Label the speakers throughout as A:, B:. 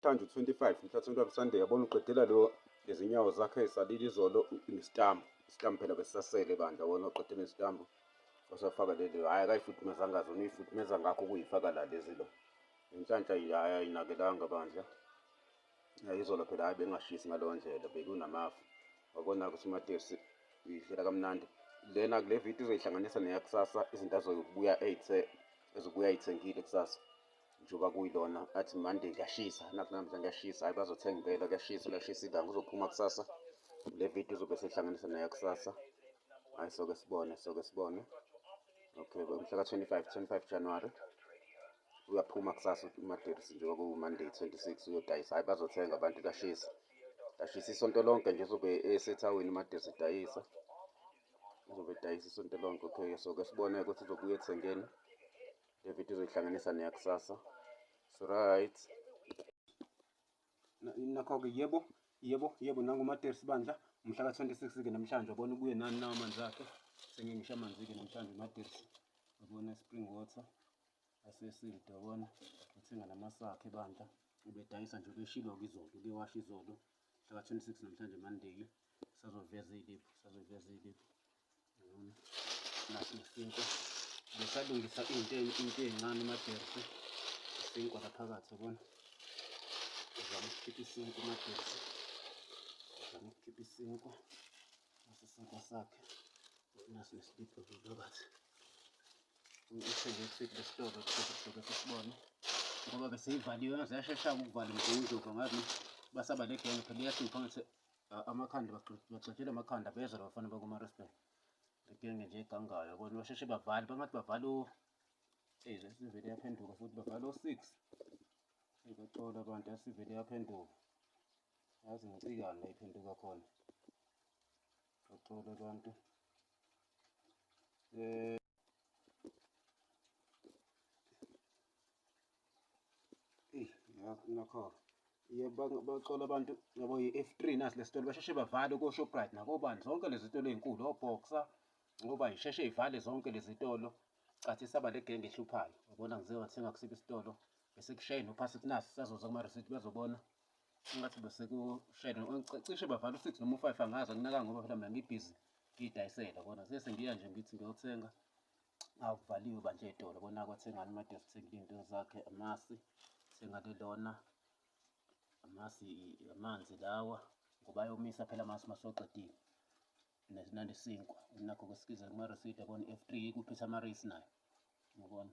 A: Thanju 25 mhlathonto abusande yabona uqedela lo izinyawo zakhe esalile izolo nesitambu isitambu phela besisasele bandla wona uqedela isitambu osafaka leli hhayi akayifudumeza ngazo niyifudumeza ngakho ukuyifaka la lezi lo inhlanhla hhayi ayinakelanga bandla izolo phela hhayi bengashisi ngaleyo ndlela bekunamafu wabona ukuthi umatesi uyidlela kamnandi lena kule video uzoyihlanganisa neyakusasa izinto azokubuya eyithe ezobuya ayithengile kusasa njengoba kuyilona athi mande kuyashisa nathi namhla kuyashisa hayi bazothenga impela kuyashisa kuyashisa ilanga uzophuma kusasa le video uzobe sehlanganisa naye kusasa hayi soke sibone soke sibone okay mhla ka-25 25 january uyaphuma kusasa umadirisi njengoba kuwumonday 26 uyodayisa hayi bazothenga abantu kuyashisa kuyashisa isonto lonke nje uzobe esethawini umadirisi edayisa uzobe edayisa isonto lonke okay soke sibone ukuthi uzobuya ethengeni Le video uzoyihlanganisa neyakusasa. So right. Nakho-ke yebo, yebo, yebo nangumatersi bandla umhla ka-26-ke namhlanje wabona ubuye nani nawo amanzi akhe sengengisho amanzi-ke namhlanje umatersi wabona spring water asesilde wabona uthenga namasakhe bandla ubedayisa nje ubeshilo-ke izolo ubewasha izolo mhla ka-26 namhlanje mandiki sazoveza iy'liphu sazoveza iy'liphu yabona naso isinkwa besalungisa into into ey'ncane umajersi isinkwa laphakathi yabona uzama ukukhipha isinkwa umajersi uzama ukukhipha isinkwa naso isinkwa sakhe naso nesiliphu phakathi ngithenge isiphi lesitolo sokusuke sisibone ngoba beseyivaliwe ngaze yashesha ukuvala umgungundlovu ngazi basaba legenge phela iyahlupha ngathi amakhanda bagxotshela amakhanda bezwa labafana bakumaresbay legenge nje egangayo bona basheshe bavale bangathi bavale eyi sivele yaphenduka futhi bavale o-six ebaxola abantu asivele yaphenduka yazi ngicikane iphenduka khona Baxole abantu. Eh Eh, nakho. Yebo baxola abantu yabo i-F3 nasi lesitolo basheshe bavale ko-Shoprite nakobani zonke lezi zitolo ezinkulu o-Boxer ngoba isheshe ivale zonke lezi zitolo cathi saba le genge ehluphayo yabona ngize wathenga kusiphi isitolo bese kushayeni uphasi kunaso sazoza kuma-receipt bazobona Ngathi besekushayela cishe bavala u-six noma u-five angazi anginaka ngoba phela mina ngibhizi ngiyidayisela kona sese ngiya nje ngithi ngiyothenga akuvaliwe banje ey'tolo kona kwathengani uMadesi uthengile iy'nto zakhe amasi thenga lelona amasi amanzi lawa ngoba ayomisa phela amasi uma soqedile nesinandi sinkwa nakho kwesikiza kumaresidi yabona i-f three ikuphethe amareyisi nayo yabona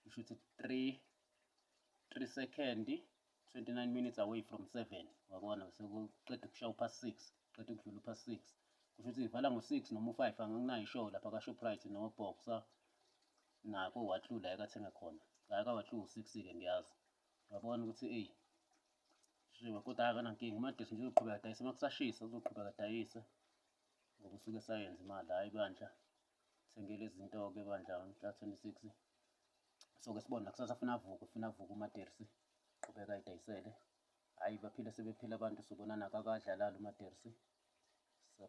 A: kusho ukuthi 3 3 second 29 minutes away from 7 wabona sekuqeda ukushawa upha 6 qeda ukudlula upha 6 kusho ukuthi ivala ngo 6 noma u 5 anginayo show lapha ka Shoprite no Boxer nako wahlula ekathenga khona ngaka wahlula u 6 ke ngiyazi wabona ukuthi ey shiwe kodwa akanankinga umadesi nje uzoqhubeka dayisa uma kusashisa uzoqhubeka dayisa ngokusuke sayenza imali hayi bandla Sengele izinto-ke bandla mhla 26 soke sibona kusasa funa avuke funa avuke umadersi qhubeka idayisele hhayi baphile sebephila abantu subonana kakadlalali umadersi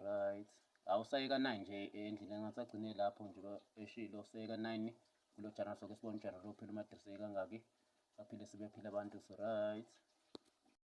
A: right awusayeka 9 nje endlini engathi agcine lapho nje eshilo usayeka 9 kulo jana soke sibona ujana lophela umadersi kangaki baphile sebephila abantu right